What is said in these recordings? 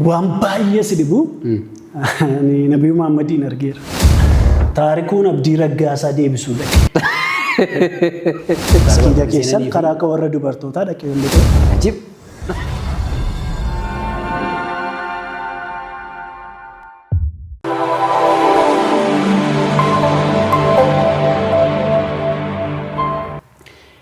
Waan baay'ee si dhibu ani Nabii Muhammadiin argeera. Taarikuun Abdii Raggaasaa deebisuu dhaqe. Maskiida keessan karaa akka warra dubartootaa dhaqee hin dhaqe. Ajib.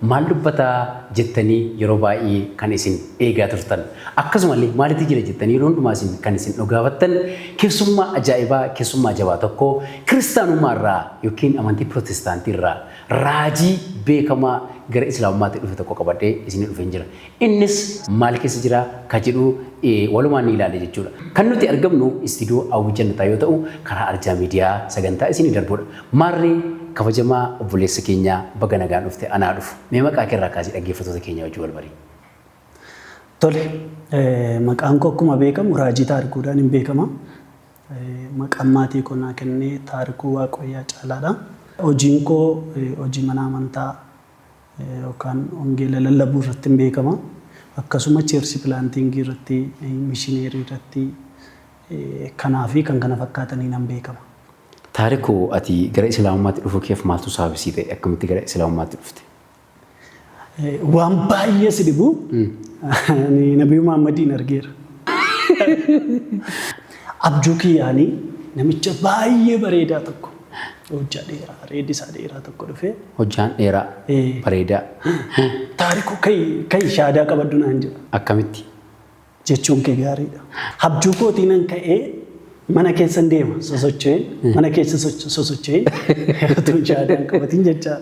Maal dubbataa? jettanii yeroo baay'ee kan isin eegaa turtan. Akkasuma illee maalitti jira jettanii yeroo hundumaa isin kan isin dhogaafattan keessummaa ajaa'ibaa, keessummaa jabaa tokko kiristaanummaa irraa yookiin amantii pirootestaantii irraa raajii beekamaa gara islaamummaatti dhufe tokko qabadhee isinii dhufeen jira. Innis maal keessa jira ka jedhu walumaan ni ilaalla jechuudha. Kan nuti argamnu istiidiyoo Hawwii Jannataa yoo ta'u, karaa Arjaa Miidiyaa sagantaa isinii darbudha. Maarree kabajamaa obboleessa keenya baga nagaan dhufte anaa dhufu. Mee maqaa kee irraa kaasii dhaggeeffattoota keenya wajjin wal barii. Tole, maqaan koo akkuma beekamu Raajii Taarikuudhaan hin beekama. Maqaan maatii koo naa kenne Taarikuu Waaqooyyaa Caalaadha. Hojiin koo hojii mana amantaa yookaan wangeela lallabuu irratti hin beekama. Akkasuma cheersi pilaantiingii irratti, mishineerii irratti kanaa fi kan kana fakkaataniin nan beekama. Taariku ati gara Islaamummaatti dhufuu keef maaltu saabisii ta'e? Akkamitti gara Islaamummaatti dhufte? Waan baay'ee si dhibu ani Nabii Muhammadiin argeera. Abjuu kiyyaanii namicha baay'ee bareedaa tokko Hojjaa dheeraa reedi isaa dheeraa tokko dhufee. Hojjaan dheeraa Ee. bareedaa Taarikuu ka'i ka'i shaadaa qabaddu naan jedha. akkamitti? Jechuun kee gaariidha. Habjuu kootii nan ka'ee mana keessan deema sosocho'een mana keessa socho- sosocho'een utuu shaadaan qabatiin jechaa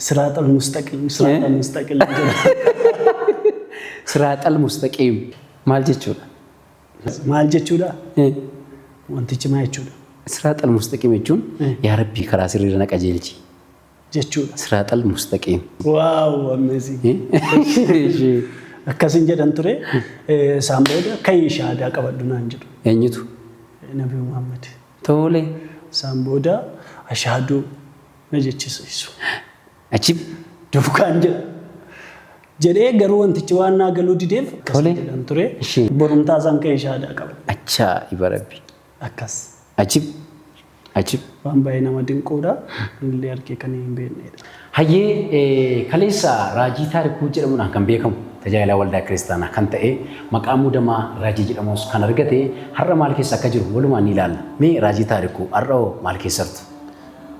siraaxal mustaqim siraaxal mustaqim jedha. Siraaxal mustaqiim maal jechuudha? Maal jechuudha? Wantichi maal jechuudha? Siraaxal mustaqiim jechuun yaa Rabbii karaa sirriirra na qajeelchi. Jechuudha. Siraaxal mustaqiim. Waaw amazing. Akkasin jedhan ture isaan booda ka'ii shahaadaa qabadhu naan jedhu. Eenyutu? Nabi Muhammad. Tole. Isaan booda ashahaduu na jechisiisu. Achi duukaan jira. Jedhee garuu wantichi waan naa galuu dideef akkas Tole. jedhan ture. Ishee. Borumtaa isaan ka'ee shaadaa qaba. Achaa iba rabbi. Akkas. Ajib. Ajib. Waan baay'ee nama dinquudha. Anillee argee kan hin beeknedha. Hayyee eh, kaleessa Raajii Taarikuu jedhamuudhaan kan beekamu tajaajilaa waldaa kiristaanaa kan ta'e maqaa muudamaa Raajii jedhamus kan argate har'a maal keessa akka jiru walumaan ni ilaalla. Mee Raajii Taarikuu har'a hoo maal keessartu?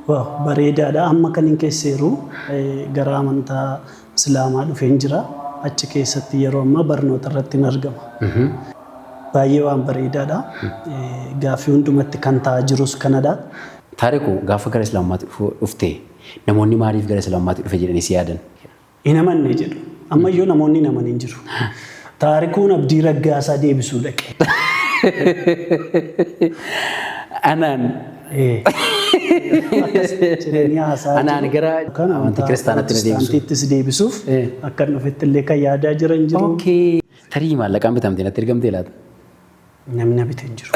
Waaw bareedaadha amma kanin keesseeru gara amantaa islaamaa dhufeen jira achi keessatti yeroo ammaa barnoota irratti hin argama baay'ee waan bareedaadha gaaffii hundumatti kan ta'aa jirus kanadha. Taariku gaafa gara islaammaatti dhuftee namoonni maaliif gara islaammaatti dhufe jedhanii si yaadan? Hin amanne jedhu. Ammayyuu namoonni hin amanin jiru. Taarikuun Abdii Raggaasaa deebisuu dhaqe. Anaan. Ee. Jireenyi haasaa Anaan jiru. gara Kan amantii amantaa kiristaanaatti na deebisu. Pirotestaantiittis deebisuuf Ee. akka hin dhufetti illee kan yaadaa jiran jiru. Okay. Tarii maallaqaan bitamtee natti ergamtee laata? Namni na bite hin jiru.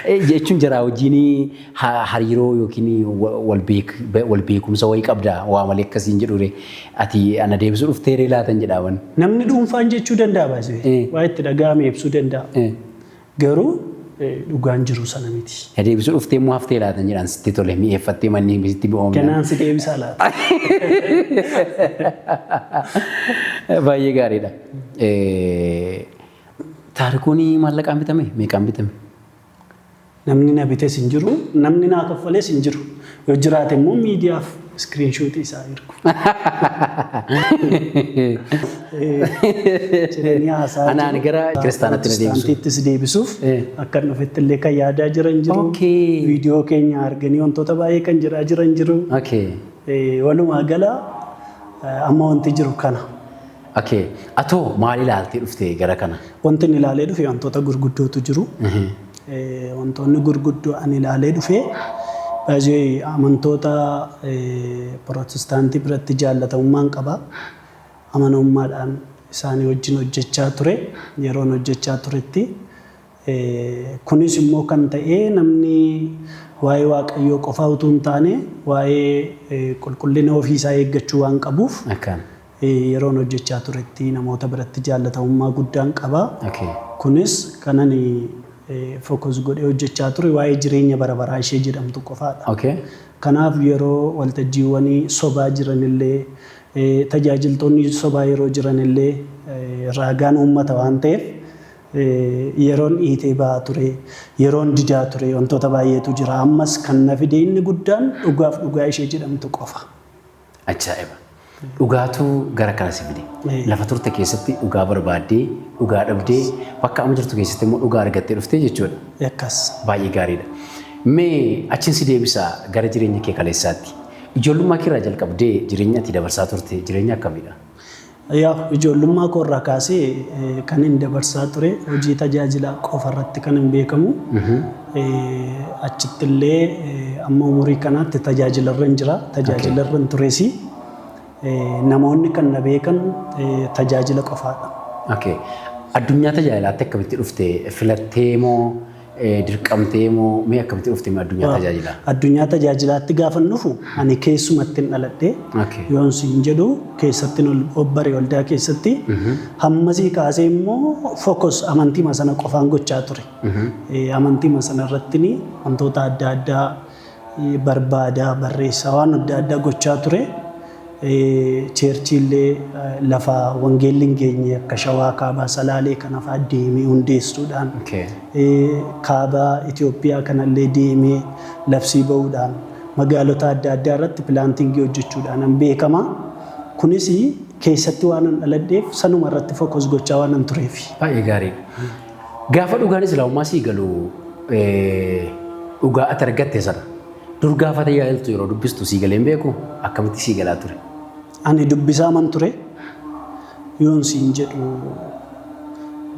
Eh, Jechuun jaraa wajjin ha- hariiroo yookiin wa- wal beek- be- wal beekumsa wayii qabda waa malee akkasiin jedhure ati ana deebisuu dhuftee ree laatan jedhaaman. Namni dhuunfaan jechuu danda'a baasee. Eh. Waa itti dhaga'ame ibsuu danda'a. Eh, Garuu eh, dhugaan jiru sana miti. Na deebisuu dhuftee immoo haftee laatan jedhaan sitti tole mi'eeffattee manneen bisitti bi'oomna. Ganaan si deebisaa laata? Baay'ee gaariidha. Taarikuun maallaqaan bitame meeqaan bitame? Namni na bites hin jiru, namni naa kaffales hin jiru. Yoo jiraate immoo miidiyaaf iskiriinshuutii isaa ergu. Jireenyi haasaa Anaan jiru. gara kiristaanaatti na deebisu. Pirootestaantiittis deebisuuf Eh. akka hin dhufetti illee kan yaadaa jiran jiru. Okay. Viidiyoo keenya arganii wantoota baay'ee kan jedhaa jiran jiru. Okay. Eh, Walumaa gala eh, amma wanti jiru kana. Okay. Atoo maal ilaaltee dhufte gara kana? Wanti inni ilaalee dhufe wantoota gurguddootu jiru. Eh, Wantoonni gurguddoo ani ilaalee dhufe baay'ee amantoota eh, pirootestaantii biratti jaallatamummaan qaba. Amanamummaadhaan isaanii wajjin hojjechaa ture. Yeroon hojjechaa turetti eh, kunis immoo kan ta'e namni waa'ee Waaqayyoo qofaa utuu hin taane waa'ee eh, qulqullina ofiisaa eeggachuu waan qabuuf Akkaan. Yeroon hojjechaa turetti namoota biratti jaallatamummaa guddaan qaba. Okay. Kunis kan ani focus godhee hojjechaa ture waa'ee jireenya bara baraa ishee jedhamtu qofaadha. Okay. Kanaaf yeroo waltajjiiwwanii sobaa jiranillee eh, tajaajiltoonni sobaa yeroo jiranillee eh, raagaan uummata waan ta'eef eh, yeroon dhiitee ba'aa ture, yeroon didaa ture wantoota baay'eetu jira. Ammas kan na fide inni guddaan dhugaaf dhugaa ishee jedhamtu qofa. Ajaa'iba! Dhugaatu gara kana si fide. Lafa turte keessatti dhugaa barbaaddee, dhugaa dhabdee, bakka amma jirtu keessatti immoo dhugaa argattee dhuftee jechuudha. Akkas. Baay'ee gaariidha. Mee achiin si deebisaa gara jireenya kee kaleessaatti. Ijoollummaa kee irraa jalqabdee jireenya ati dabarsaa turte jireenya akkamiidha? Yaa ijoollummaa koo irraa kaasee kanin dabarsaa ture hojii tajaajilaa qofa irratti kanin beekamu. Achitti illee amma umurii kanaatti tajaajila irran jira. Tajaajila irran tures namoonni kan na beekan tajaajila qofaadha. Okay. Addunyaa tajaajilaatti akkamitti dhufte? Filattee moo Dirqamtee moo mee akkamitti dhufte mee addunyaa tajaajilaa? Addunyaa tajaajilaatti gaafan dhufu ani keessumatti hin dhaladhe yoon siin jedhu keessatti obbare waldaa keessatti hammasii kaasee immoo fokos amantiima sana qofaan gochaa ture. Amantiima sana irratti wantoota adda addaa barbaada, barreessa waan adda addaa gochaa ture. Cheerchiillee lafa wangeelli hin geenye akka Shawaa Kaabaa Salaalee kana fa'aa deemee hundeessuudhaan kaaba Itoophiyaa kanallee deemee labsii ba'uudhaan magaalota adda addaa irratti pilaantingii hojjechuudhaan beekama. Kunis keessatti waan dhaladheef sanuma irratti fokus gochaa waan tureef. Baay'ee gaarii. Gaafa dhugaan Islaamummaa sii galu dhugaa ati argatte sana dur gaafa tajaajiltu yeroo dubbistu sii galee hin beeku akkamitti sii galaa ture? Ani dubbisaa man ture yoon siin jedhu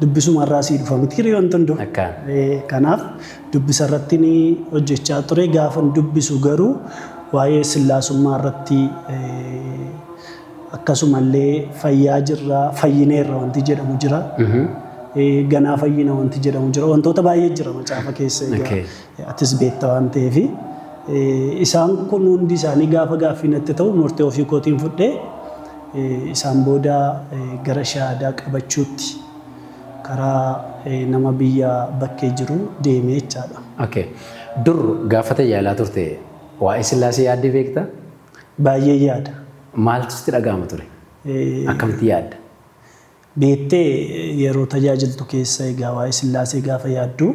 dubbisuma irraa sii dhufa miti hiriyoon wanti hunduu. Akka. Eh, Kanaaf dubbisa irratti ni hojjechaa ture gaafan dubbisu garuu waa'ee sillaasummaa irratti eh, Akkasumallee fayyaa jirra, fayyineerra wanti jedhamu jira. Eh, Ganaa fayyina wanti jedhamu jira. Wantoota baay'ee jira macaafa keessa egaa Okay. eh, atis beekta waan ta'eef. Eh, Isaan kun hundi isaanii gaafa gaaffii natti ta'u murtee ofii kootiin fudhee eh, isaan booda eh, gara shahaadaa qabachuutti karaa eh, nama biyya bakkee jiru deemee jechaadha. Okay. Dur gaafa tajaajilaa turte waa'ee sillaasee yaaddee beekta? Baay'een yaada. Maaltu sitti dhaga'ama ture? Akkamitti yaadda? Beektee yeroo tajaajiltu keessa egaa waa'ee Sillaasee gaafa yaaddu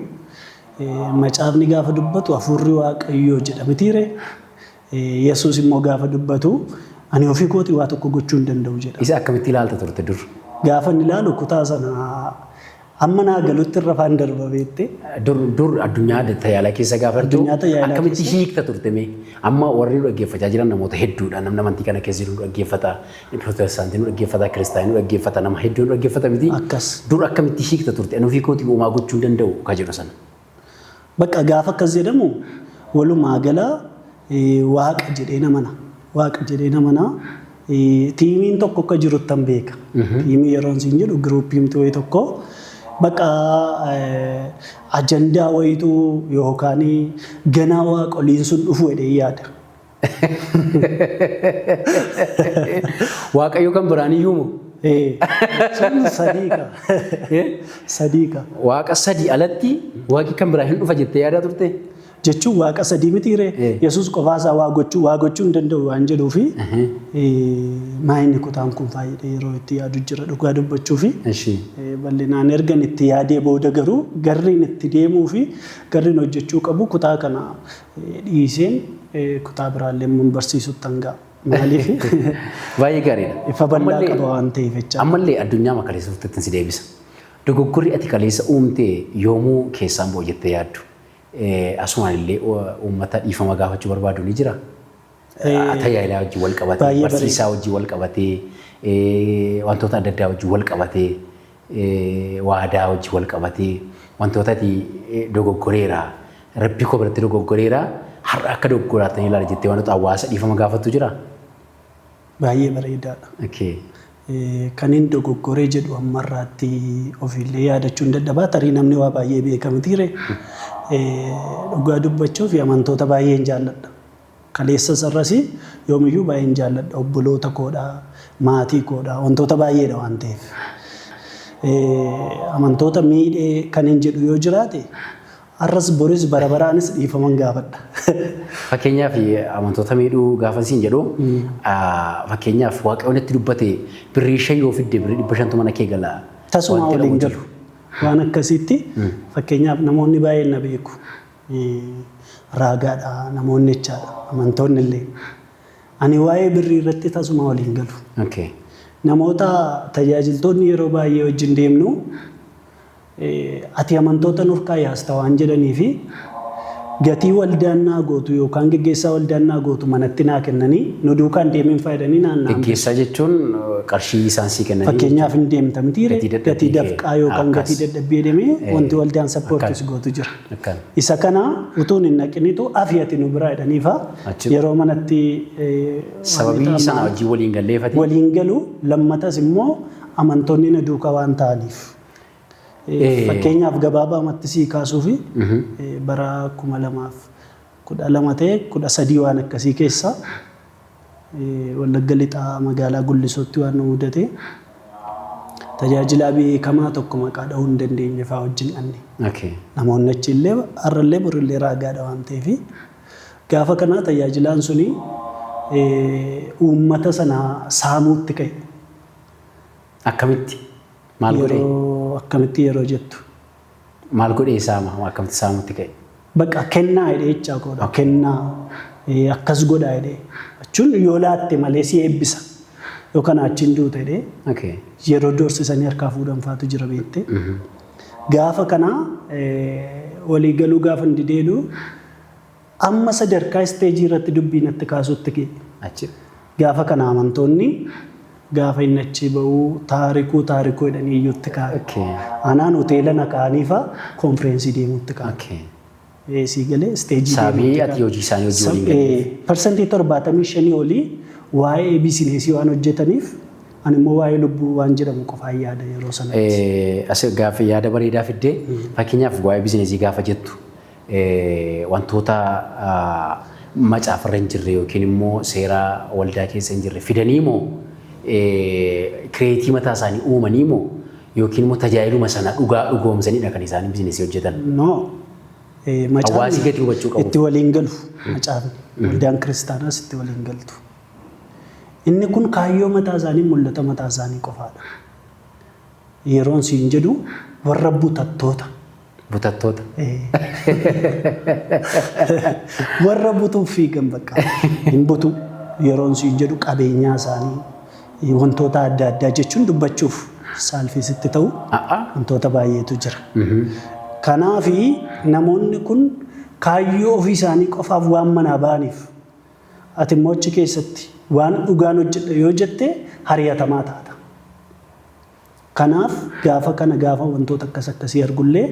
macaafni gaafa dubbatu hafuurri Waaqayyoo jedha mitiiree? Yesuus immoo gaafa dubbatu ani ofii kootii waa tokko gochuu hin danda'u jedha. Isa akkamitti ilaalta turte dur? Gaafa inni ilaalu kutaa sana Hamma naa galutti irra faan darba beettee. Dur dur addunyaa tajaajilaa keessa gaafa jirtu Addunyaa tajaajilaa akkamitti keessa. hiikta turte mee? Amma warri nu dhaggeeffachaa jiran namoota hedduudha. Namni amantii kana keessa jiru nu dhaggeeffata. Pirootestaantii nu dhaggeeffata. Kiristaanii nu dhaggeeffata. Nama hedduu nu dhaggeeffata miti. Akkas. Dur akkamitti hiikta turte? Ani ofii kootii homaa gochuu hin danda'u ka jedhu sana. Bakka gaafa akkas jedhamu walumaa gala waaqa jedhee namana. Waaqa jedhee namana. Tiimiin tokko akka jiruttan beeka. Tiimii yeroon siin jedhu giruupiin wayii tokko bakka ajandaa wayiitu yookaan ganaa waaqoliin sun dhufu jedhee yaada. Waaqayyo kan biraan iyyuu moo? Eh, Sun sadii ka. Eh? Sadii ka. Waaqa sadii alatti waaqi kan biraa hin dhufa jettee yaadaa turte? Jechuun waaqa sadii miti ree. Eh. Yesuus qofaasaa waa gochuu waa gochuu hin danda'u waan jedhuu fi Ahe. maayinni kutaan kun faayidha yeroo itti yaadu jira dhugaa dubbachuu fi Eshi. eh, bal'inaan ergan itti yaadee booda garuu garriin itti deemuu fi garriin hojjechuu qabu kutaa kana dhiiseen kutaa biraallee immoo barsiisuttan ga'a. Maaliif? Baay'ee gaariidha. Ifa bal'aa qaba waan ta'eef jecha. Ammallee addunyaa makaleessa turtetti si deebisa. Dogoggorri ati kaleessa uumte yoomuu keessaan boo'u jettee yaaddu. Asumaan illee uummata dhiifama gaafachuu barbaadu ni jira. tajaajilaa wajjin wal qabatee, Baay'ee bareeda. barsiisaa wajjin wal qabatee, eh, wantoota adda addaa wajjin wal qabatee, eh, waadaa wajjin wal qabatee, wantoota ati eh, dogoggoreera, rabbii koo biratti dogoggoreera, har'a akka dogoggoraattan ilaala jettee wantoota hawaasa dhiifama gaafattu jira? Baay'ee bareedaadha. Okay. Eh, kan hin dogoggoree jedhu ammarraatti ofiillee yaadachuu hin dadhabaa tarii namni waa baay'ee beekamtiire dhugaa dubbachuuf amantoota baay'een jaalladha. Kaleessas har'as yoomiyyuu baay'een jaalladha. Obboloota koodha, maatii koodha, wantoota baay'eedha waan ta'eef. Amantoota miidhee kanin jedhu yoo jiraate har'as boris bara baraanis dhiifaman gaafadha. Fakkeenyaaf amantoota miidhuu gaafa siin jedhu fakkeenyaaf waaqayyoon itti dubbate birrii shan yoo fidde birrii dhibba shantu mana kee gala. Tasumaa waliin galu. Waan akkasiitti fakkeenyaaf namoonni baay'een na beeku. raagaadha, namoonni jechaadha, amantoonni illee. Ani waa'ee birrii irratti tasuma wal hin galu. Okay. Namoota tajaajiltoonni yeroo baay'ee wajjin deemnu eh, ati amantoota nurkaa yaasta waan jedhanii fi gatii waldaan naa gootu yookaan geggeessaa waldaan naa gootu manatti naa kennanii nu duukaan deemiin faayidanii naan naan Geggeessaa jechuun eh, qarshii isaan sii kennanii Fakkeenyaaf hin deemta mitiire Gatii dadhabbii gatii kee. dafqaa yookaan Ah, gatii kas. dadhabbii jedhamee Eh, wanti waldaan sappoortis akkas. gootu jira. Akkan. Isa kana utuun hin dhaqinitu afi ati nu biraa jedhaniifa Achi- yeroo manatti eh, waan Sababii ta'an- sana wajjin waliin galleefati. waliin galu lammatas immoo amantoonni na duuka waan ta'aniif. Eh, Eh. Fakkeenyaaf gabaabaamatti sii kaasuufi eh, bara kuma lamaaf 12 ta'e 13 waan akkasii keessa Wallagga Lixaa magaalaa Gullisootti waan nu mudate tajaajilaa beekamaa tokko maqaa dhahuu hin dandeenye fa'aa wajjin dhanne. Okay. Namoonni achi illee har'a illee bor illee raagaadha waan ta'eef gaafa kanaa tajaajilaan suni eh, uummata sana saamuutti ka'e. Akkamitti? Maal godhee? Yeroo akkamitti yeroo jettu Maal godhee saama akkamti saamutti ka'e. Baqa kennaa jedhee jechaa koodha. Kennaa eh, akkas godhaa jedhee. Jechuun yoo laatte malee si eebbisa. Yoo kanaa achiin duuta jedhee Okay. yeroo doorsisanii harkaa fuudhan faatu jira beekte. Gaafa kana eh, walii galuu gaafa hin dideedhu Amma sadarkaa isteejii irratti dubbii natti kaasutti ga'e. Achi. Gaafa kana amantoonni gaafa inni achii ba'u taarikuu taarikuu jedhanii iyyuutti ka'an. Okay. Anaan hoteela na ka'anii fa'a konfireensii deemuutti ka'an. Okay. Ee, sii galee isteejii Sababii deemuutti ati ka'an. hojii isaanii hojii waliin Sab- galleef. ee, Parsantii torbaatamii shanii olii waa'ee biisineesii waan hojjetaniif ani immoo waa'ee lubbuu waan jedhamu qofaan yaada yeroo sanatti. Eh, as gaaffii yaada bareedaa fiddee fakkeenyaaf waa'ee bizineesii gaafa jettu wantoota macaafarra hin jirre yookiin immoo seera waldaa keessa hin jirre fidanii moo kireetii mataa isaanii uumanii moo yookiin immoo tajaajiluma sana dhugaa dhugoomsanidha kan isaan bizinesii hojjetan. No. Eh, Hawaasi Macaafni gadi hubachuu qabu. itti waliin galu. Macaafni. Waldaan kiristaanaas itti waliin galtu. Inni kun kaayyoo mataa isaanii mul'ata mataa isaanii qofaadha. Yeroon siin jedhu warra butattoota. Butattoota. Warra butuuf fiigan bakka hin butu yeroon siin jedhu qabeenyaa isaanii wantoota adda addaa jechuun dubbachuuf saalfii sitti ta'u A'a. wantoota baay'eetu jira. Kanaaf namoonni kun kaayyoo ofii isaanii qofaaf waan manaa ba'aniif ati immoo achi keessatti waan dhugaan hojjedha yoo jette hariyatamaa taata. Kanaaf gaafa kana gaafa wantoota akkas akkasii argullee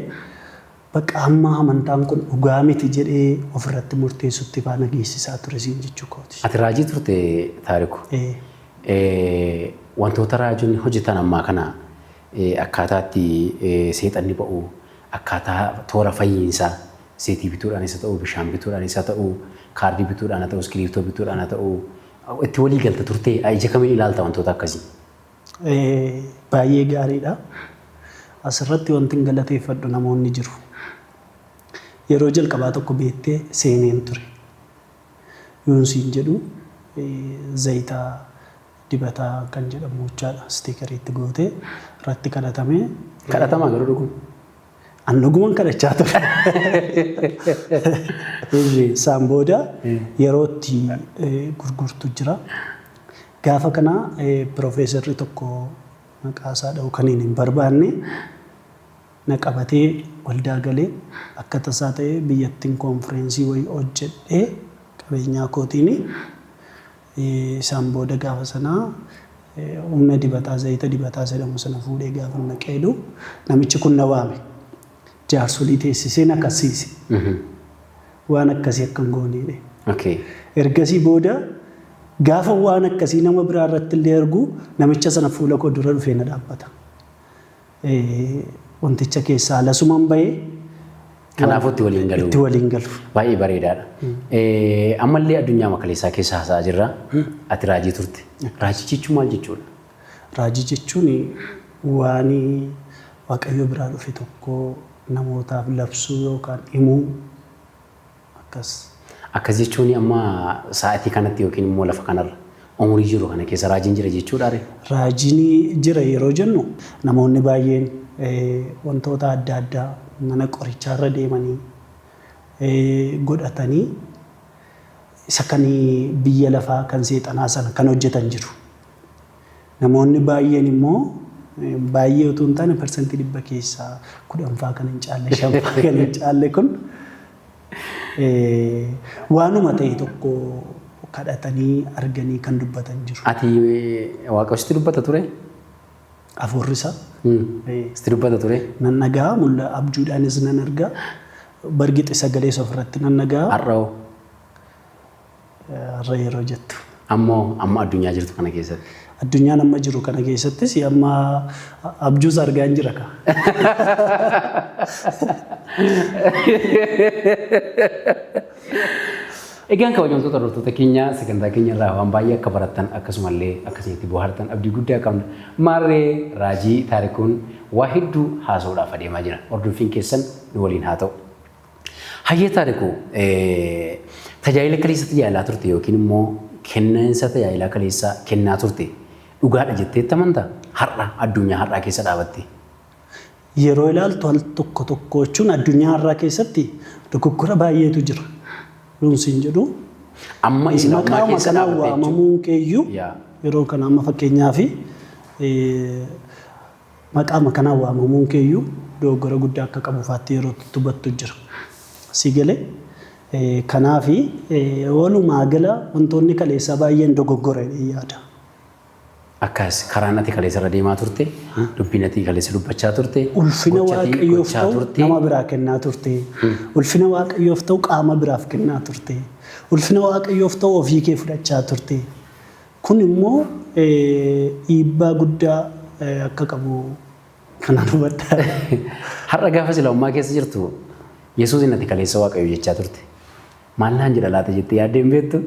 bakka hamma amantaan kun dhugaa miti jedhee ofirratti murteessutti faa na geessisaa ture siin jechuu kooti. Ati raajii turte Taariku. Ee. Eh, wantoota raajonni hojjetan ammaa kana eh, akkaataa itti eh, seexanni ba'u, akkaataa toora fayyiinsaa seetii bituudhaanis haa ta'u, bishaan bituudhaanis haa ta'u, kaardii bituudhaan haa ta'u, iskiriiptoo bituudhaan haa ta'u, itti walii galta turtee ija kamiin ilaalta wantoota akkasii? Baay'ee gaariidha. Asirratti wantin galateeffadhu namoonni jiru. Yeroo jalqabaa tokko beettee seeneen ture. Yoon siin jedhu zayita dibataa kan jedhamu jechaadha. Stiikariitti gootee irratti kadhatamee. Kadhatamaa garuu dhuguma. An dhuguman kadhachaa ture. Isaan booda yeroo itti gurgurtu jira. Gaafa kana piroofeesarri tokko maqaa isaa dha'uu kan hin barbaanne na qabatee waldaa galee akka tasaa ta'ee biyyattiin koonfireensii wayii hojjedhee qabeenyaa kootiin Isaan booda gaafa sana humna dibataa, zayita dibataa jedhamu sana fuudhee gaafan dhaqee jedhu namichi kun na waame. Jaarsolii teessisee na kassiise. Waan akkasii akka hin goone jedhee. Okay. Ergasii booda gaafa waan akkasii nama biraa irratti illee argu namicha sana fuula koo dura dhufee na dhaabbata. wanticha keessaa lasuman bahee Kanaafuu itti waliin galu. itti waliin galu. Baay'ee bareedaadha. Eh, Ammallee addunyaa makaleessaa keessa haasa'aa jirra. Ati raajii turte. Raajii jechuun maal jechuudha? Raajii jechuun waan Waaqayyo biraa dhufe tokko namootaaf labsuu yookaan himuu Akkas. Akkas jechuun amma sa'atii kanatti yookiin immoo lafa kanarra umurii jiru kana keessa raajiin jira jechuudhaa ree? Raajiin jira yeroo jennu namoonni baay'een wantoota adda addaa mana qorichaarra deemanii godhatanii isa kan biyya lafaa kan seexanaa sana kan hojjetan jiru. Namoonni baay'een immoo baay'ee utuu hin taane parsantii dhibba keessaa kudhanfaa kan hin caalle shanfaa kan hin caalle kun waanuma ta'e tokko kadhatanii arganii kan dubbatan jiru. Ati waaqa sitti dubbata ture? Afuurri isaa. Sitti dubbata ture? Nan dhaga'a mulla abjuudhaanis nan arga. Bargixi sagalees ofirratti nan dhaga'a. Har'a hoo? har'a yeroo jettu. Ammoo amma addunyaa jirtu kana keessatti. Addunyaan amma jiru kana keessattis amma abjuus argaan jira ka. Egaan kabajamtoota hordoftoota keenya sagantaa keenya irraa waan baay'ee akka barattan akkasumallee akkasitti bohaartan abdii guddaa qabna. Maarree raajii taarikuun waa hedduu haasa'uudhaaf adeemaa jira. Hordoffiin keessan nu waliin haa ta'u. Hayyee taariku tajaajila kaleessa tajaajilaa turte yookiin immoo kenniinsa tajaajilaa kaleessa kennaa turte dhugaadha jettee amanta har'a addunyaa har'aa keessa dhaabatte. Yeroo ilaaltu al tokko tokko jechuun addunyaa har'aa keessatti dogoggora baay'eetu jira. Yoon siin jedhu Amma isin ammaa maqaama keessa kanaan dhaabatte jechuudha. waamamuun keeyyuu Yaa. yeroo kana amma fakkeenyaaf Maqaama kanaan waamamuun kee iyyuu dogoggora guddaa akka qabu faatti yeroo itti hubattu jira. Sii galee? Kanaafi walumaa gala wantoonni kaleessaa baay'een dogoggora jedheen yaada. Akkas, karaan ati kaleessa irra deemaa turte, dubbiin ati kaleessa dubbachaa turte, Ulfina gocha ati Waaqayyoof gochaa ta'u turte, nama biraa kennaa turte. Ulfina Waaqayyoof ta'u qaama biraaf kennaa turte. Ulfina Waaqayyoof ta'u ofii kee fudhachaa turte. Kun immoo dhiibbaa guddaa akka qabu kanaan hubadha. Har'a gaafa sila ummaa keessa jirtu Yesuusiin ati kaleessa Waaqayyo jechaa turte. Maal naan jedha laata jettee yaaddee hin beektu?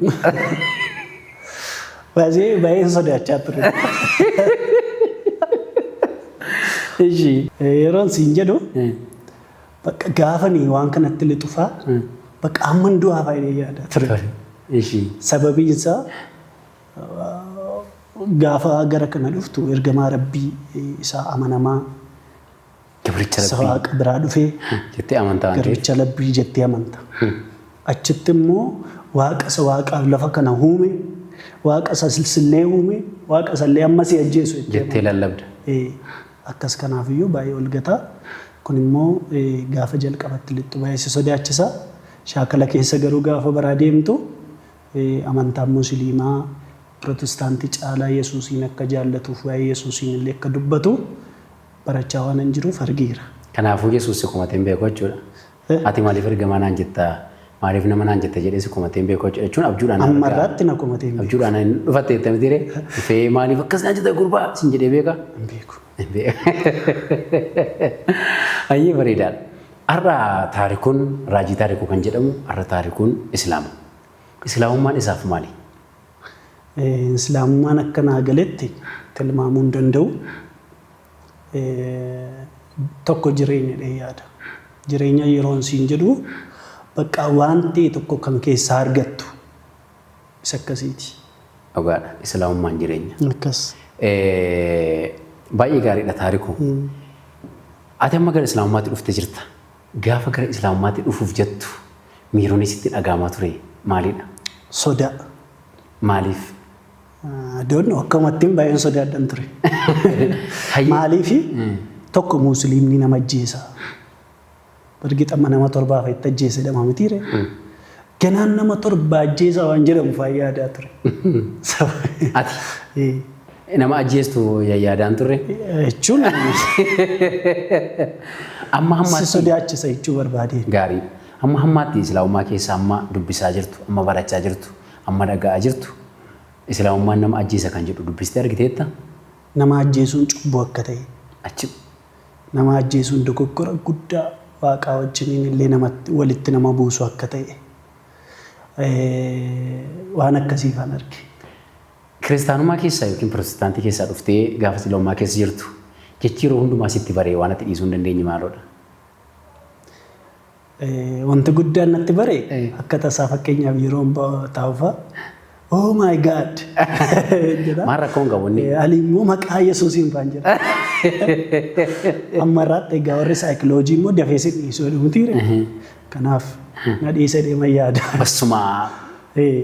Baay'ee baay'een sodaachaa ture. Ishii. Yeroon siin jedhu Eh, Bakka gaafani waan kanatti lixu faa bakka hamman du'aa faa inni yaadaa ture. Sababiin isaa gaafa gara kana dhuftu ergamaa rabbii isaa amanamaa isa waaqa biraa dhufee garbicha labbii jettee amanta. Achitti immoo waaqa isa waaqaaf lafa kana uume waaqa isa sillee uume waaqa isallee amma si ajjeesu jettee lallabda. Akkas kanaaf iyyuu baay'ee ol gata. Kun immoo gaafa jalqabatti lixxu baay'ee si sodaachisa. Shaakala keessa garuu gaafa baraa deemtu amantaan Musiliimaa Pirotistaantii caalaa Yesuusiin akka jaallatuuf waa'ee Yesuusiin illee akka dubbatu barachaa waanan jiruuf argeera. Kanaafuu Yesuus si komatee hin beeku jechuudha. Eh? Ati maaliif ergamaa naan jetta? Maaliif nama naan jetta jedhee si komatee hin beeku jechuudha. jechuun abjuudhaan Amma argaa. irraatti na komatee hin beeku. Abjuudhaan hin dhufatte jetta miti ree? Dhufee maaliif akkas naan jetta gurbaa sin jedhee beeka? Hin beeku. Hin beeku. Hayyee bareedaadha. Har'a taarikuun raajii taarikuu kan jedhamu har'a taarikuun Islaama. Islaamummaan isaaf maali? Eh, Islaamummaan akka naa galetti tilmaamuu hin danda'u. tokko jireenya jedhee yaada. Jireenya yeroon siin jedhu baqqaa waan ta'e tokko kan keessaa argattu isa akkasiiti. Dhugaadha. Islaamummaan jireenya. Akkas. Baay'ee gaariidha taariku. Ati amma gara Islaamummaatti dhufte jirta. Gaafa gara Islaamummaatti dhufuuf jettu miironni sitti dhaga'amaa ture maalidha? Sodaa. Maaliif? Doon akkamattiin baay'een sodaadhan ture. Maaliifi tokko muusliimni nama ajjeesa. Bargi xamma nama torbaa fa'itti ajjeese dhama mitiire. Ganaan nama torba ajjeesa waan jedhamu fa'aa yaadaa ture. Ati nama ajjeestu yaadaan turre. Jechuun Amma si hammaatti sodaachisa jechuu barbaadeen. gaarii. Amma hammaatti islaamummaa keessa amma dubbisaa jirtu, amma barachaa jirtu. Amma dhaga'aa jirtu, Islaamummaan nama ajjeesa kan jedhu dubbistee argiteetta? Nama ajjeesuun cubbuu akka ta'e. Achi. Nama ajjeesuun dogoggora guddaa Waaqaa wajjiniin illee namatti, walitti nama buusu akka ta'e waan akkasii faan arge. Kiristaanummaa keessaa ykn Pirootestaantii keessaa dhuftee gaafa Islaamummaa keessa jirtu, jechi yeroo hundumaa sitti baree waan ati dhiisuu hin dandeenye maaloo dha? Wanti guddaan natti bare akka tasaa fakkeenyaaf yeroon taa'u fa'a oh my god jedha. Maal rakkoon qabu inni? Ani immoo maqaa Yesuusiin faan jedha. Amma irraatti egaa warri saayikiloojii immoo dafee si dhiisuu jedhu mitiire. Kanaaf na dhiisee deema yaada. Bassumaa. Ee.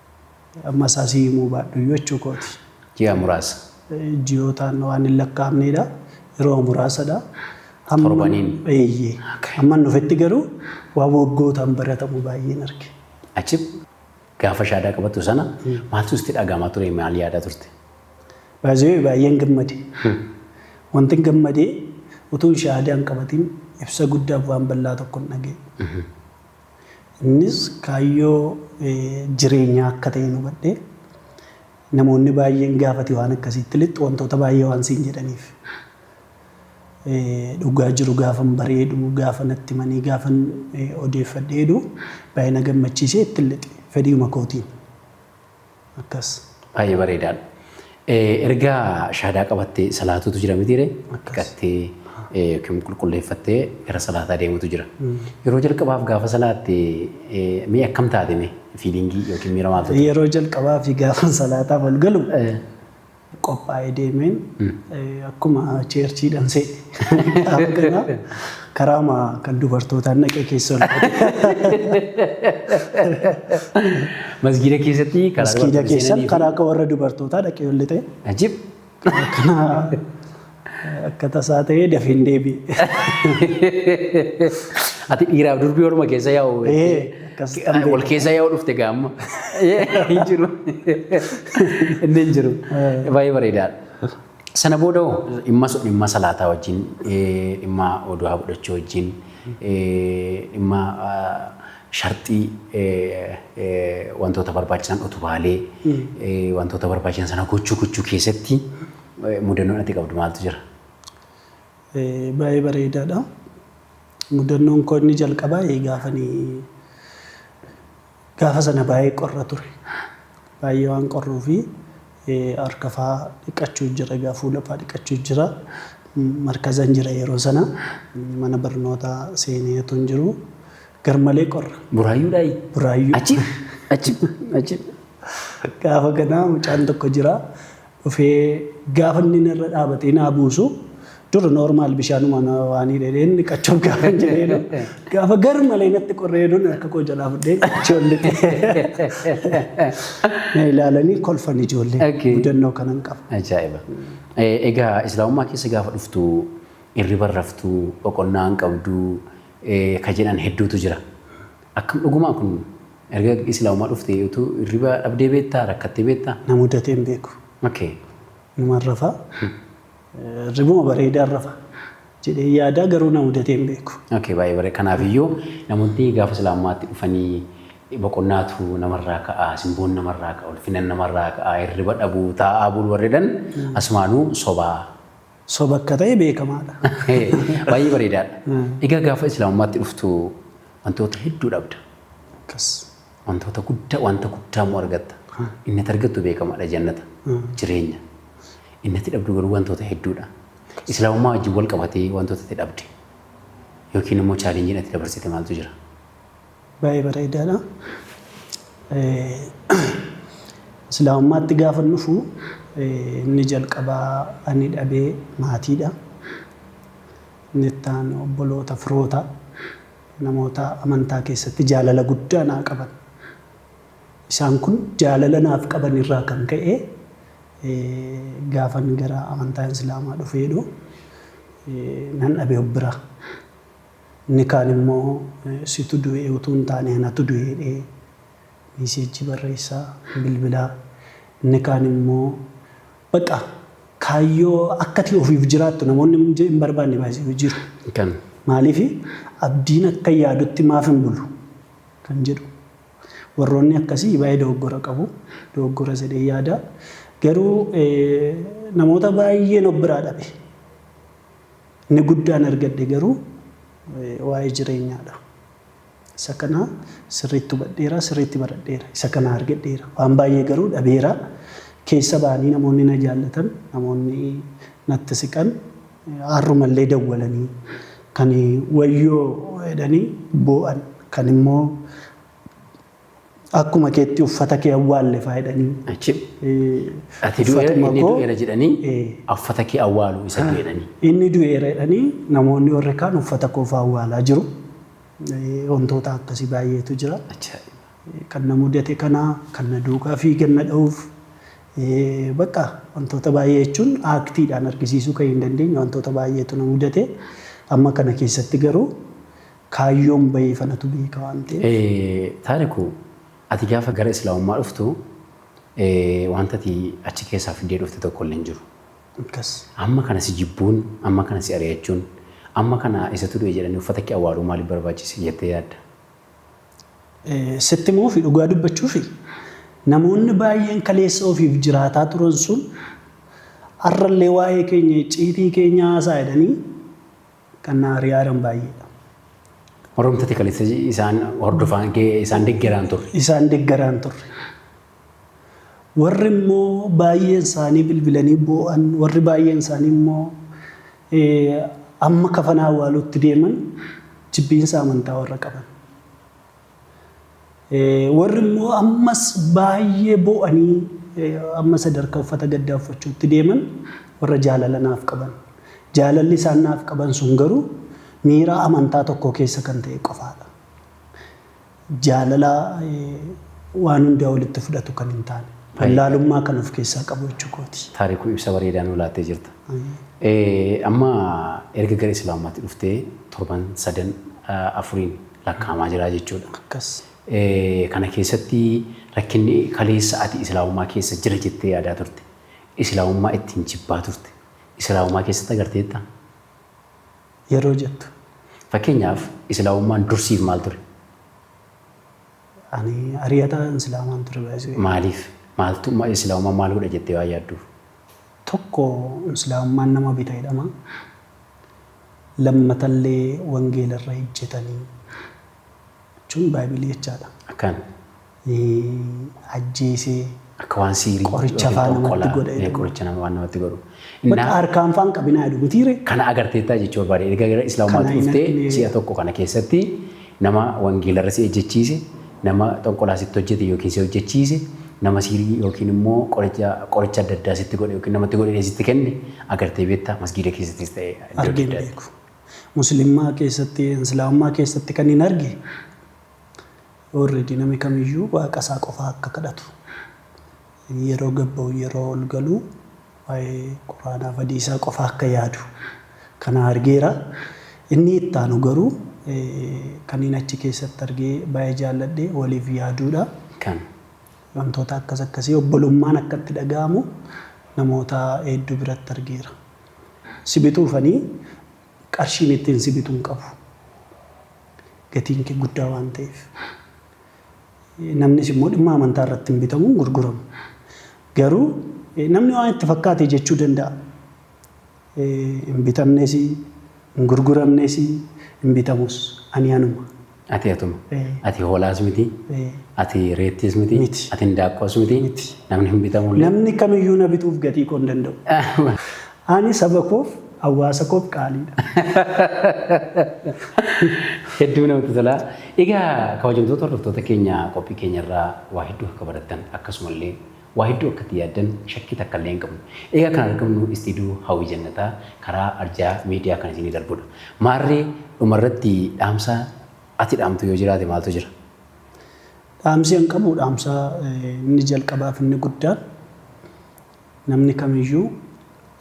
Amma isaa sii himuu baadhuyyuu jechuu kooti. Ji'a muraasa. Ji'ootaan waan hin lakkaa'amneedha. Yeroo muraasadha. Hamman- Torbaniin. Eeyyee. Okay. Hamman dhufetti garuu waan waggootaan baratamu baay'een arge. Achi gaafa shaadaa qabattu sana maaltu sitti dhaga'amaa ture maal yaadaa turte? Baay'ee baay'een gammade. Wanti hin gammadee utuun shahaadaa hin qabatin ibsa guddaaf waan bal'aa tokko hin dhaga'e. Innis kaayyoo jireenyaa akka ta'e hubadhe. Namoonni baay'een gaafati waan akkasiitti lixxu wantoota baay'ee waan siin jedhaniif. Dhugaa jiru gaafan bareedu, gaafa natti himanii, gaafan odeeffadheedu baay'ee na gammachiisee itti lixe fedhiima kootiin. Akkas. Baay'ee bareedaadha. Erga shahaadaa qabattee salaatuutu jira mitiire dhiqattee yookiin qulqulleeffattee gara salaataa deemutu jira. Yeroo jalqabaaf gaafa salaatte mee akkam taate mee fiiliingii yookiin miira maaltu ture? Yeroo jalqabaa fi gaafa salaataa wal galu qophaa'ee deemeen akkuma cheerchiidhaan seene gaafa ganaa karaama kan dubartootaan dhaqee keessa ol Masgiida keessatti karaa Masgiida dubartoota keessan seenanii fi- karaa akka warra dubartootaa dhaqee ol lixee Ajib! kana Akka tasaa ta'ee dafeen deebi'e. Ati dhiiraaf durbii waluma keessa yaa'u. Ee, akkas kan beeku. Wal keessa yaa'u dhufte gaa amma. Hin jiru. Inni hin jiru. Baay'ee bareedaadha. Sana booda hoo dhimma so- dhimma salaataa wajjin eh, dhimma oduu haa fudhachuu wajjin eh, dhimma ah, sharxii eh, eh, wantoota barbaachisan utubaalee eh, wantoota barbaachisan sana gochuu gochuu keessatti Mudannoon ati qabdu maaltu jira? Baay'ee bareedaadha. Mudannoon koo inni jalqabaa gaafani gaafa sana baay'ee qorra ture. Baay'ee waan qorruu fi harka faa dhiqachuu jira egaa fuula faa dhiqachuu jira. Markazan jira yeroo sana mana barnootaa seenee otoo hin jiru garmalee qorra. Buraayyuudhaayi? Buraayyuu. Achi? Achi? Achi? Gaafa kanaa mucaan tokko jira. dhufee gaafa inni narra dhaabatee naa buusu dur normal bishaanuma na waan hidhedheen dhiqachuuf gaafa hin jedheenu gaafa gar malee natti qorreeduun harka koo jalaa fudhee ijoollee na ilaalanii kolfan ijoollee Okay. mudannoo kanan qaba. Ajaa'iba. Eh, Egaa islaamummaa keessa gaafa dhuftu irriba raftu boqonnaa hin qabdu eh, ka jedhan hedduutu jira. Akkam dhugumaa kun Erga islaama dhuftee utu irriba dhabdee beektaa rakkattee beektaa? Na mudatee hin beeku. Okay. Numan rafa. Irribuma bareedaan rafa. jedhee yaadaa garuu na mudatee hin beeku. Okay baay'ee bare kanaaf iyyuu namoonni gaafa islaamummaatti dhufanii boqonnaatu namarraa ka'a simboon namarraa ka'a ulfinan namarraa ka'a hirriba dhabuu taa'aa bulu warredhan asumaanuu sobaa Soba akka ta'e beekamaadha. Baay'ee bareedaadha. Egaa gaafa Islaamummaatti dhuftu wantoota hedduu dhabda. Akkas. Wantoota guddaa wanta guddaa immoo argatta. Inni ati argattu beekamaadha jannata jireenya. Inni ati dhabdu garuu wantoota hedduudha. Islaamummaa wajjin wal qabatee wantoota ati dhabde yookiin immoo chaalenjiin ati dabarsite maaltu jira? Baay'ee bareedaadha. Islaamummaatti gaafa dhufu inni jalqabaa ani dhabee maatiidha. Inni itti aanu obboloota firoota namoota amantaa keessatti jaalala guddaa naa qaban. Isaan kun jaalala naaf qaban irraa kan ka'e gaafan gara amantaa islaamaa dhufeedhu nan dhabe of biraa. Inni kaan immoo situ du'e utuu hin taane anatu du'e jedhee miiseejjii barreessa, bilbila. Inni kaan immoo baqa kaayyoo akka ati ofiif jiraattu namoonni hin barbaanne baay'ee jiru. Kan. Maaliif abdiin akka yaadutti maaf hin bulu kan jedhu. Warroonni akkasii baay'ee dogoggora qabu. Dogoggoras jedhee yaada. Garuu namoota baay'een of biraa dhabe. Inni guddaan argadhe garuu waa'ee jireenyaa dha. Isa kana sirriitti hubadheera, sirriitti baradheera. Isa kana argadheera. Waan baay'ee garuu dhabeera. Keessa ba'anii namoonni na jaallatan, namoonni natti siqan har'uma illee dawwalanii kan wayyoo jedhanii boo'an, kan immoo Akkuma keetti uffata kee awwaalle faa jedhanii. Achi ati du'eera Uffatuma inni koo- du'eera jedhanii Eh. uffata kee awwaalu isa du'e jedhanii. Inni du'eera jedhanii namoonni warri kaan uffata koo faa awwaalaa jiru. Eh, Wantoota akkasii baay'eetu jira. Acha. kan na mudate kana kan na duukaa fiigan na dha'uuf eh, bakka wantoota baay'ee jechuun aaktiidhaan argisiisuu kan hin dandeenye wantoota baay'eetu na mudate amma kana keessatti garuu Kaayyoon baheef anatu beeka waan ta'eef. Taariku ati gaafa gara islaamummaa dhuftu wanta ati achi keessaa fiddee dhufte tokko illee hin jiru. Akkas. Amma kana si jibbuun, amma kana si ari'achuun, amma kana isatu du'e jedhanii uffata kee awwaaluu maaliif barbaachise jettee yaadda? Sitti himuu fi dhugaa dubbachuufi namoonni baay'een kaleessa ofiif jiraataa turan sun har'a illee waa'ee keenya icciitii keenya haasa'a jedhanii Qannaa Ari'aaran baay'eedha. Warroomta tekalessa isaan hordofaan isaan deggeraan turre. Isaan deggeraan turre. Warri immoo baay'een isaanii bilbilanii boo'an, warri baay'een isaanii immoo amma kafana awwaaluutti deeman jibbiinsa amantaa warra qaban. Warri immoo ammas baay'ee boo'anii amma sadarkaa uffata gaddaa uffachuutti deeman warra jaalala naaf qaban. Jaalalli isaan naaf qaban sun garuu miiraa amantaa tokkoo keessa kan ta'e qofaadha. Jaalala waan hundaa walitti fudhatu kan hin taane. Wallaalummaa kan of keessaa qabu jechuu kooti. Taarikuu ibsa bareedaa nuu laattee jirta. Amma erga gara Islaamummaatti dhuftee torban sadan afuriin lakkaa'amaa jira jechuudha. Akkas. Kana keessatti rakkinni kaleessa ati Islaamummaa keessa jira jettee yaadaa turte, Islaamummaa ittiin jibbaa turte, Islaamummaa keessatti agarteetta? Yeroo jettu. Fakkeenyaaf Islaamummaan dur siif maal ture? Ani ari'ataa Islaamaan ture baay'isee. Maaliif? Maaltu ma- Islaamummaan maal godha jettee waan yaadduuf? Tokko Islaamummaan nama bita jedhama. Lammatallee wangeela irra ijjetanii jechuun Baaybilii jechaadha. Akkan. Ajjeesee. Akka waan siirii. Qoricha faa namatti godha jedhu. Qoricha nama waan namatti godhu. Bakka harkaan faan qabinaa jedhu mitiire. Kana agarteettaa jechuu barbaade. Erga gara Islaamummaatti dhuftee si'a tokko kana keessatti Nama wangeelarra si ejjechiise, nama xonqolaa sitti hojjete yookiin si hojjechiise, nama siirii yookiin immoo qoricha qoricha adda addaa sitti godhe yookiin namatti godhee sitti kenne agartee beektaa? Masgiida keessattis ta'e iddoo adda Argee hin addaatti. beeku. Muslimmaa keessatti, Islaamummaa keessatti kanin arge already nami kamiyyuu waaqa isaa qofaa akka kadhatu. Yeroo gad ba'u yeroo ol galu waa'ee Qur'aanaa badii isaa qofa akka yaadu kana argeera. Inni itti aanu garuu kanneen achi keessatti argee baay'ee jaalladhe waliif yaaduudha. Kan. Wantoota akkas akkasii obbolummaan akka itti dhaga'amu namoota hedduu biratti argeera. Si bituuf ani qarshiin ittiin si bitu hin qabu. Gatiin kee guddaa waan ta'eef. Namnis immoo dhimma amantaa irratti hin bitamu, hin gurguramu. Garuu namni waan itti fakkaate jechuu danda'a. Hin bitamnes, hin gurguramnes, hin bitamus. Ani anuma. Ati atuma. Ati hoolaas miti. Ati reettiis miti. Miti. Ati hindaaqqoos miti. Miti. Namni hin bitamullee. Namni kamiyyuu na bituuf gatii koo hin danda'u. Ani saba koof, hawaasa koof qaaliidha. Hedduu namatti tola. Egaa kabajamtoota hordoftoota keenya qophii keenya irraa waa hedduu akka barattan akkasumallee waa hedduu akka itti yaaddan shakkii takka illee hin qabnu. Egaa kan argamnu istiidiyoo Hawwii Jannataa karaa arjaa miidiyaa kan isinii darbudha. Maarree dhumarratti dhaamsa ati dhaamtu yoo jiraate maaltu jira? Dhaamsi an qabu dhaamsa inni jalqabaa fi inni guddaan Namni kamiyyuu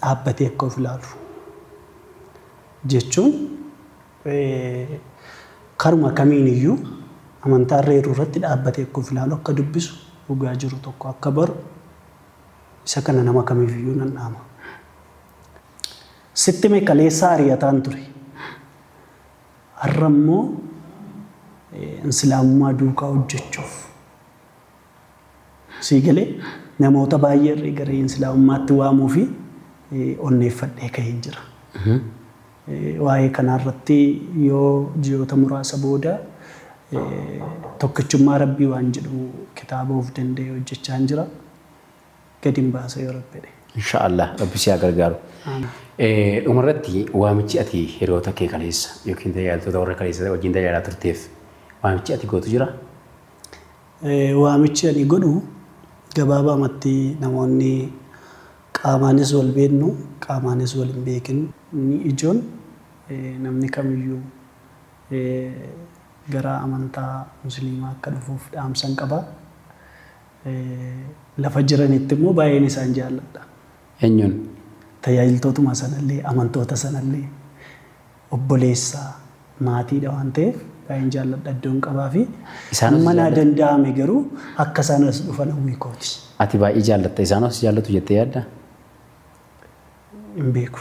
dhaabbatee akka of ilaalu jechuun karuma kamiiniyyuu amantaa irra jiru irratti dhaabbatee akka of ilaalu, akka dubbisu, dhugaa jiru tokko akka baru isa kana nama kamiifiyyuu nan dhaama. Sitti hime kaleessaa ari'ataan ture. Har'a immoo Islaamummaa duukaa hojjechuuf Sii galee? Namoota baay'ee irree garee Insilaawummaatti waamuufi onneeffadhee kaheen jira. Waa'ee kanaa irratti yoo ji'oota muraasa booda Tokkichummaa Rabbii waan jedhu kitaaba of danda'e hojjechaan jira. Gadi hin baasa yoo Rabbi jedhe. Inshaa Allaah Rabbi si haa gargaaru. Dhuma irratti waamichi ati hiriyoota kee kaleessa yookiin tajaajiltoota warra kaleessa wajjin tajaajilaa turteef waamichi ati gootu jiraa? Waamichi ani godhu gabaabaamatti namoonni qaamaanis wal beeknu qaamaanis wal hin beekin inni ijoon namni kamiyyuu gara amantaa musliimaa akka dhufuuf dhaamsan qaba. Lafa jiranitti immoo baay'een isaan jaalladha. Eenyuun? Tajaajiltootuma sanallee amantoota sanallee. obboleessa, maatiidha waan ta'eef baay'een jaalladha, iddoon qabaafi. Isaanoo si Hamma naa jaallatu? danda'ame garuu akka isaan as dhufan hawwii kooti. Ati baay'ee jaallatta. Isaanoo si jaallatu jettee yaaddaa? Hin beeku.